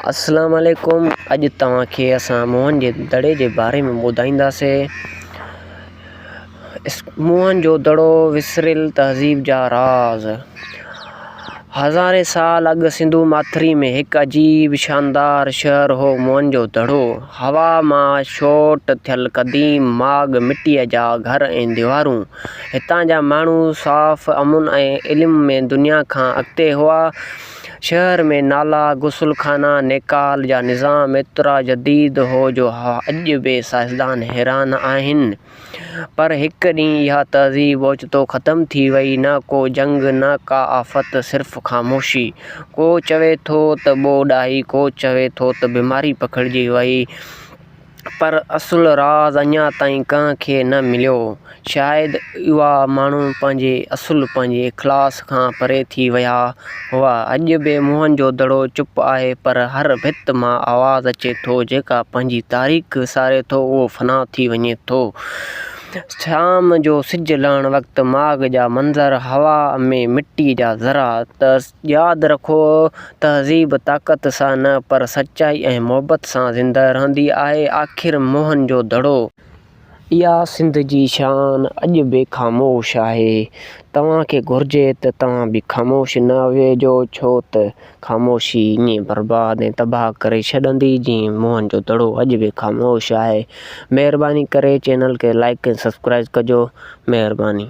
اسلام عليڪم اڄ توهان کي اسان موهن جي دڙي جي باري ۾ ٻڌائينداسي. موهن جو دڙو وسريل تهذيب جا راز. هزارين سال اڳ سنڌو ماٿري ۾ هڪ عجيب شاندار شهر هو موهن جو دڙو. هوا مان شوٽ ٿيل قديم ماڳ مٽيء جا گهر ۽ ديوارون. هتان جا ماڻهو صاف، امن ۽ علم ۾ دنيا کان اڳتي هئا. شهر ۾ نالا، غسل خانا، نيڪال جا نظام ايترا جديد هو جو اڄ به سائنسدان حيران آهن. پر هڪ ڏينهن اها تهذيب اوچتو ختم ٿي وئي، نه ڪو جنگ، نه ڪا آفت، صرف خاموشي. ڪو چوي ٿو ته ٻوڏ آئي، ڪو چوي ٿو ته بيماري پکڙجي وئي. پر اصل راز اڃا تائين ڪنهن کي نه مليو. شايد اها ماڻهو پنهنجي اصل، پنهنجي اخلاص کان پري ٿي ويا هئا. اڄ به موهن جو دڙو چپ آهي پر هر ڀت مان آواز اچي ٿو، جيڪا پنهنجي تاريخ ساري ٿو اهو فنا ٿي وڃي ٿو. شام جو سج لهڻ وقت ماڳ جا منظر، هوا ۾ مٽي جا ذرا، ياد رکو، تهذيب طاقت سان نه پر سچائي ۽ محبت سان زنده رهندي آهي. آخر موهن جو دڙو. اها سنڌ جي شان اڄ به خاموش آهي. توهان کي گهرجي ته توهان به خاموش نه ويهجو ڇو ته خاموشي ائين برباد ۽ تباهه ڪري ڇڏندي جيئن موهن جو دڙو اڄ به خاموش آهي. مهرباني ڪري چينل کي لائيڪ ۽ سبسڪرائيز ڪجو. مهرباني.